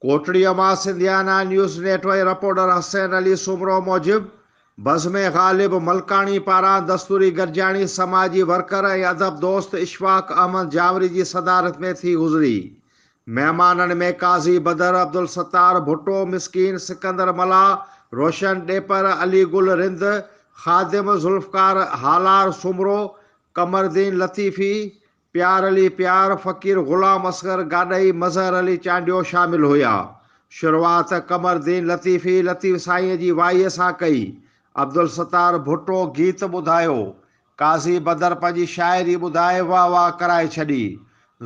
ڪوٽڙيء مان Sindhiana news network reporter Hussain Ali Soomro موجب، بزم غالب ملڪاڻي پاران دستوري گڏجاڻي سماجي ورڪر ۽ ادب دوست اشفاق احمد جاوري جي صدارت ۾ ٿي گذري. مهمانن ۾ قاضي بدر، عبدالستار ڀٽو، مسڪين سڪندر ملاح، روشن ڏيپر، علي گل رند، خادم ذوالفقار هالار سومرو، قمردين لطيفي، پيار علي پيار، فقير غلام اصغر گاڏهي، مظهر علي چانڊيو شامل هيا. شروعات قمرالدين لطيفي لطيف سائينء جي وائيء سان ڪئي. عبدالستار ڀٽو گيت ٻڌايو. قاضي بدر پنهنجي شاعري ٻڌائي واهه واهه ڪرائي ڇڏي.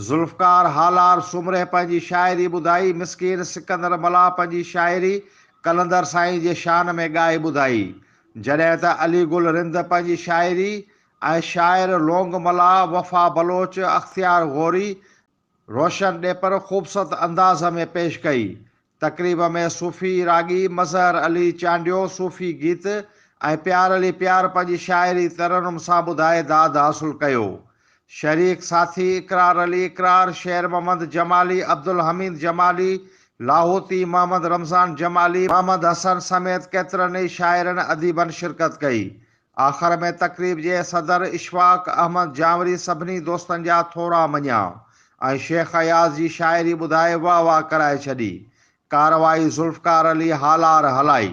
ذوالفقار هالار سومري پنهنجي شاعري ٻڌائي مسڪين سڪندر ملاح پنهنجي شاعري قلندر سائين جي شان ۾ ڳائي ٻڌائي. جڏهن ته علي گل رند پنهنجي شاعري آء شاعر لونگ ملاح، وفا بلوچ، اختيار غوري، روشن ڏيپر خوبصورت انداز ۾ پيش ڪئي. تقريب ۾ صوفي راڳي مظهر علي چانڊيو صوفي گيت ۽ پيار علي پيار پنهنجي شاعري ترنم سان ٻڌائي داد حاصل ڪيو. شريڪ ساٿي اقرار علي اقرار، شير محمد جمالي، عبدالحميد جمالي، لاهوتي، محمد رمضان جمالي، محمد حسن سميت ڪيترن ئي شاعرن اديبن شرڪت ڪئي. آخر ۾ تقريب جي صدر اشفاق احمد جانوري سڀني دوستن جا ٿورا مڃيا ۽ شيخ اياز جي شاعري ٻڌائي واهه واهه ڪرائي ڇڏي. ڪارروائي ذوالفقار علي هالار هلائي.